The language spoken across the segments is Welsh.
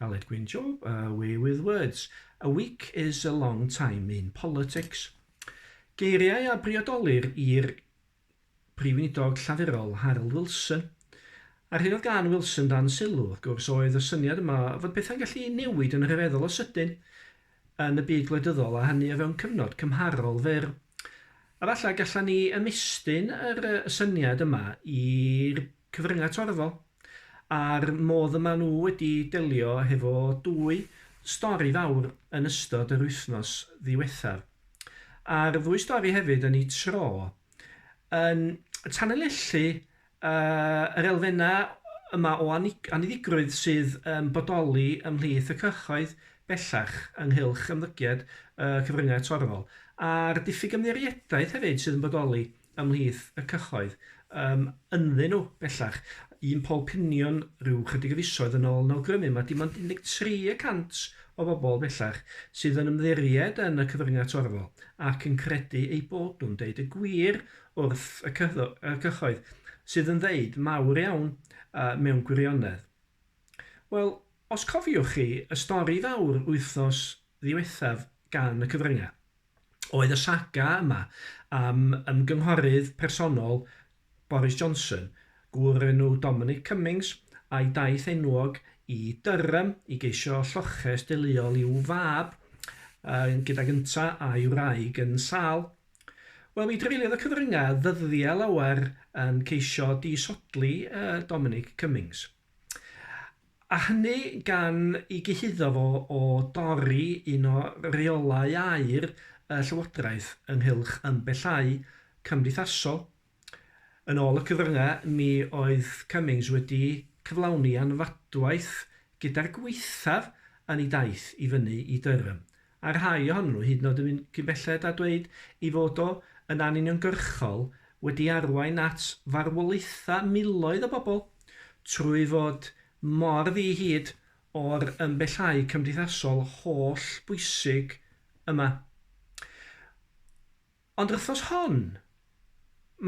Aled Gwyn Job, away with words. A week is a long time in politics. Geiriau a briodolir i'r Prif Weinidog Llafurol Harold Wilson. A'r hyn oedd gan Wilson dan sylw, wrth gwrs, oedd y syniad yma fod pethau'n gallu newid yn rhyfeddol o sydyn yn y byd gwledyddol a hynny o fewn cyfnod cymharol fyr. A falle gallan ni ymestyn yr, y syniad yma i'r cyfryngau torfol, a'r modd y maen nhw wedi delio hefo dwy stori fawr yn ystod yr wythnos ddiwethaf. A'r ddwy stori hefyd yn eu tro yn tanlinellu yr elfennau yma o anniddigrwydd sydd yn bodoli ymhlith y cyhoedd bellach ynghylch ymddygiad y cyfryngau torfol, a'r diffyg ymddiriedaeth hefyd sydd yn bodoli ymhlith y cyhoedd yym ynddyn nhw bellach. Un pol piniwn ryw chydig o fisoedd yn ol yn awgrymu ma dim ond 13 y cant o bobl bellach sydd yn ymddiried yn y cyfryngau torfol ac yn credu eu bod nhw'n deud y gwir wrth y cyhoedd sydd yn ddeud mawr iawn yy mewn gwirionedd. Wel, os cofiwch chi y stori fawr wythnos ddiwethaf gan y cyfryngau, oedd y saga yma am ymgynghorydd personol Boris Johnson, gŵr o'r enw Dominic Cummings, a'i daith enwog i Durham i geisio lloches deuluol i'w fab, yy gydag ynta a'i wraig yn sâl. Wel, mi dreuliodd y cyfryngau ddyddiau lawer yn ceisio disodli yy Dominic Cummings. A hynny gan i gyhuddo fo o dorri un o reolau aer y Llywodraeth ynghylch ymbellau cymdeithasol. Yn ôl y cyfryngau, mi oedd Cummings wedi cyflawni anfadwaith gyda'r gwaethaf yn ei daith i fyny i Durham a rhai ohonyn nhw hyd yn oed yn mynd cyn belled â dweud ei fod o yn anuniongyrchol wedi arwain at farwolaethau miloedd o bobl trwy fod mor ddi-hid o'r ymbellau cymdeithasol holl bwysig yma. Ond yr wythnos hon,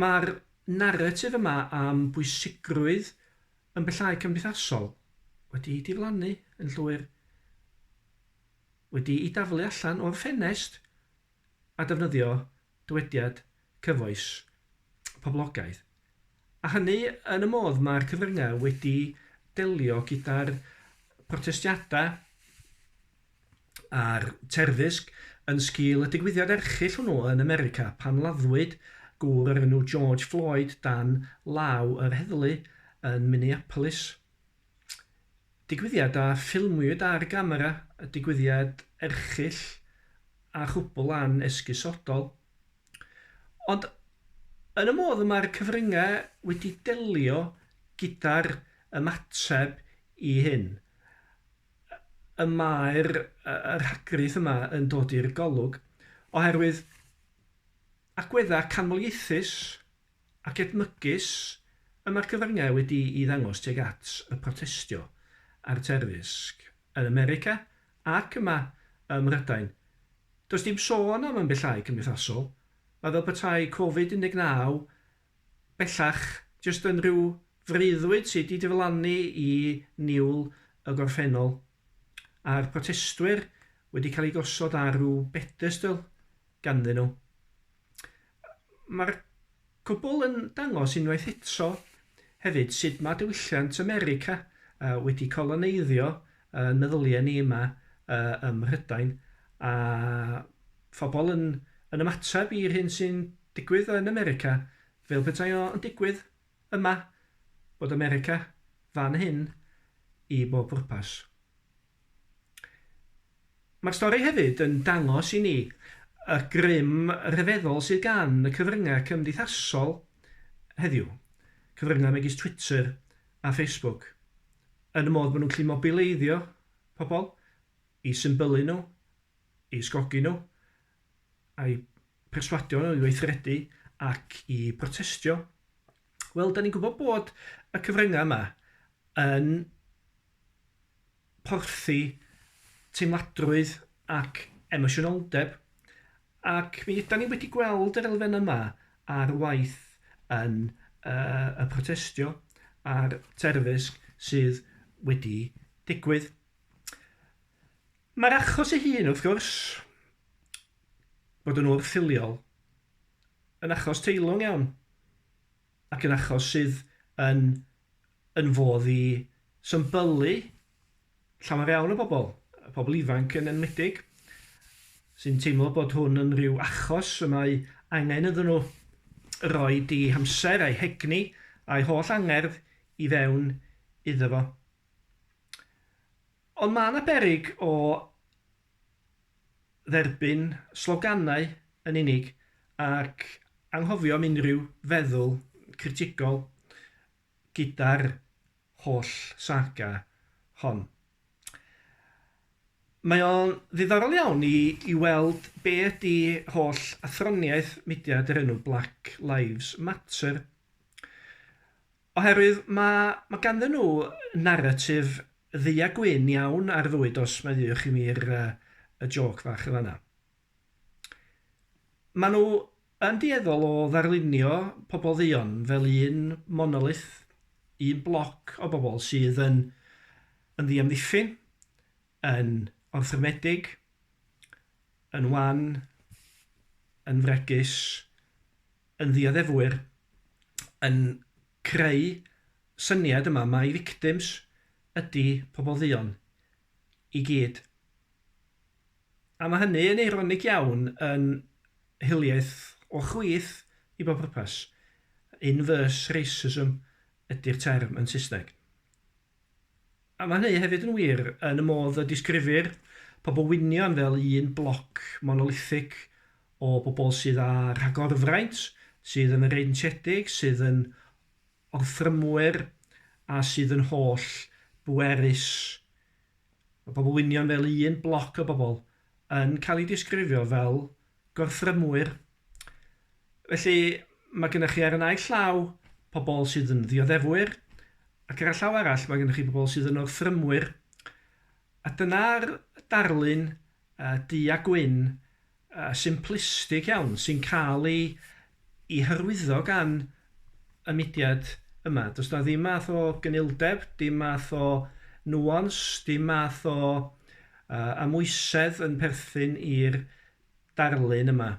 mae'r naratif yma am bwysigrwydd ymbellau cymdeithasol wedi diflannu yn llwyr. wedi'i daflu allan o'r ffenest a defnyddio dywediad cyfoes poblogaidd, a hynny yn y modd mae'r cyfryngau wedi delio gyda'r protestiadau a'r terfysg yn sgil y digwyddiad erchyll hwnnw yn America pan laddwyd gŵr o'r enw George Floyd dan law yr heddlu yn Minneapolis. Digwyddiad a ffilmiwyd ar gamera, y digwyddiad erchyll a chwbl an esgusodol. Ond yn y modd y mae'r cyfryngau wedi delio gyda'r ymateb i hyn, y mae'r rhagrith yma yn dod i'r golwg, oherwydd agweddau canmoliaethus ac edmygus y mae'r cyfryngau wedi'i ddangos tuag at y protestio a'r terfysg yn America ac yma ym Mhrydain. Does dim sôn am ymbellhau cymdeithasol, mae fel petai Covid 19 bellach jyst yn rhyw freuddwyd sydd wedi diflannu i niwl y gorffennol, a'r protestwyr wedi cael eu gosod ar ryw bedestl. ganddyn nhw. Mae'r cwbl yn dangos unwaith eto hefyd sut mae diwylliant America wedi coloneiddio yn meddyliau ni yma ym Mhrydain, a phobl yn yn ymateb i'r hyn sy'n digwydd yn America fel petai o yn digwydd yma, bod America fan hyn i bob pwrpas. Mae'r stori hefyd yn dangos i ni y grym rhyfeddol sydd gan y cyfryngau cymdeithasol heddiw, cyfryngau megis Twitter a Facebook, yn y modd bod nhw'n gallu mobileiddio pobl, i symbylu nhw, i ysgogi nhw, a'u perswadio nhw i weithredu ac i brotestio. Wel, 'da ni'n gwybod bod y cyfryngau yma yn porthi teimladrwydd ac emosiynoldeb, ac mi ydan ni wedi gweld yr elfen yma ar waith yn y protestio a'r terfysg sydd wedi digwydd. Mae'r achos ei hun, wrth gwrs, bod yn wrth-filiol, yn achos teilwng iawn, ac yn achos sydd yn yn fodd i symbylu llawer iawn o bobl, pobl ifanc yn enwedig, sy'n teimlo bod hwn yn rhyw achos y mae angen iddyn nhw roi i hamser a'i hegni a'i holl angerdd i fewn iddo fo. Ond mae yna berig o dderbyn sloganau yn unig ac anghofio am unrhyw feddwl critigol gyda'r holl saga hon. Mae o'n ddiddorol iawn i i weld be' ydi holl athroniaeth mudiad o'r enw Black Lives Matter. Oherwydd ma' ma' ganddyn nhw naratif ddu a gwyn iawn ar fywyd os mae ddeuwch i mi'r yy y jôc fach yn fan'na. Maen nhw yn dueddol o ddarlunio pobl dduon fel un monolith, un bloc o bobl sydd yn yn ddiamddiffyn, yn orthrymedig, yn wan, yn fregus, yn ddioddefwyr, yn creu syniad yma mai victims ydi pobl dduon i gyd. A mae hynny yn eironig iawn yn hiliaeth o chwith i bob pwrpas. Inverse racism ydi'r term yn Saesneg. A mae hynny hefyd yn wir yn y modd y disgrifir pobl wynion fel un bloc monolithig o bobl sydd â rhagorfraint, sydd yn freintiedig, sydd yn orthrymwyr a sydd yn holl bwerus. Mae pobl wynion fel un bloc o bobl yn cael eu disgrifio fel gorthrymwyr. Felly, mae gennych chi ar y naill llaw pobl sydd yn ddioddefwyr, ac ar y llaw arall mae gennych chi pobl sydd yn orthrymwyr. A dyna'r darlun du a gwyn a simplistig iawn sy'n cael ei ei hyrwyddo gan y mudiad yma. Does 'na ddim math o gynildeb, dim math o nuance, dim math o yy amwysedd yn perthyn i'r darlun yma.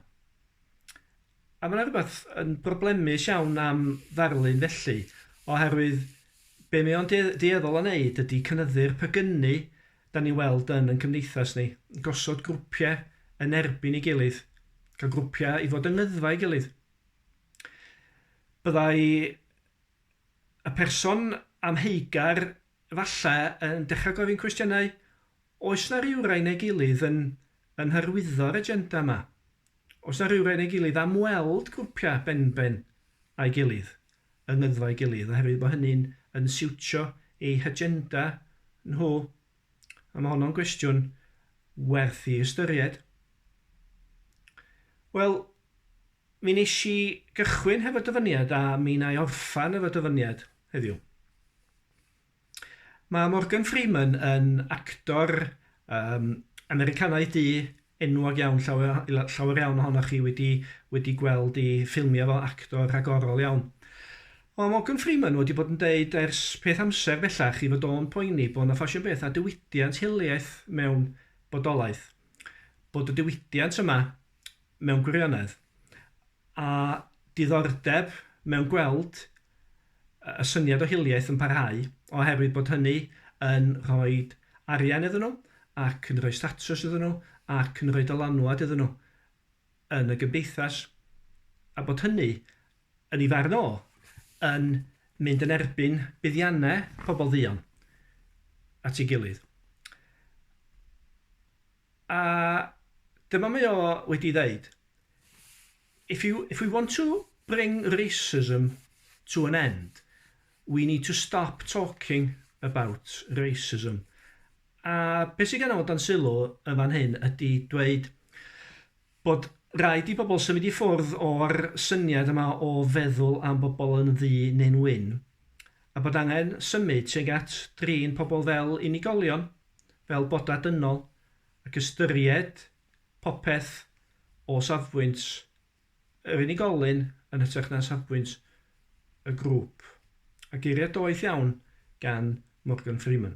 A mae 'na rywbeth yn broblemus iawn am ddarlun felly, oherwydd be mae o'n du- dueddol o wneud ydy cynyddu'r pegynnu 'dan ni'n weld yn yn cymdeithas ni, gosod grwpiau yn erbyn ei gilydd, cael grwpiau i fod yng ngyddfa ei gilydd. Byddai y person amheugar falle yn dechrau gofyn cwestiynau Oes 'na rywrai neu gilydd yn yn hyrwyddo'r agenda 'ma? Oes 'na rywrai neu gilydd am weld grwpia' benben a'i gilydd, yng ngyddfau'i gilydd, oherwydd bo' hynny'n yn siwtio eu hagenda nhw? A ma' honno'n gwestiwn werth 'i ystyried. Wel, mi nesh i gychwyn hefo dyfyniad a mi 'na i orffan efo dyfyniad heddiw. Mae Morgan Freeman yn actor yym Americanaidd du enwog iawn, llawer o- la- llawer iawn ohonoch chi wedi wedi gweld ei ffilmiau fel actor rhagorol iawn. Ond Morgan Freeman wedi bod yn deud ers peth amser bellach ei fod o'n poeni bod 'na ffasiwn beth a diwydiant hiliaeth mewn bodolaeth, bod y diwydiant yma mewn gwirionedd, a diddordeb mewn gweld y syniad o hiliaeth yn parhau, oherwydd bod hynny yn rhoi arian iddyn nhw, ac yn rhoi statws iddyn nhw, ac yn rhoi dylanwad iddyn nhw yn y gymdeithas, a bod hynny, yn ei farn o, yn mynd yn erbyn buddiannau pobl dduon at ei gilydd. A dyma mae o wedi ddeud, If you, if we want to bring racism to an end, we need to stop talking about racism. A beth sydd gan o dan sylw yn fan hyn ydy dweud bod rhaid i bobl symud i ffwrdd o'r syniad yma o feddwl am bobl yn ddu neu'n wyn, a bod angen symud tuag at drin pobl fel unigolion. fel bodau dynol ac ystyried popeth o safbwynt yr unigolyn yn hytrach na safbwynt y grŵp, a geiriau doeth iawn gan Morgan Freeman.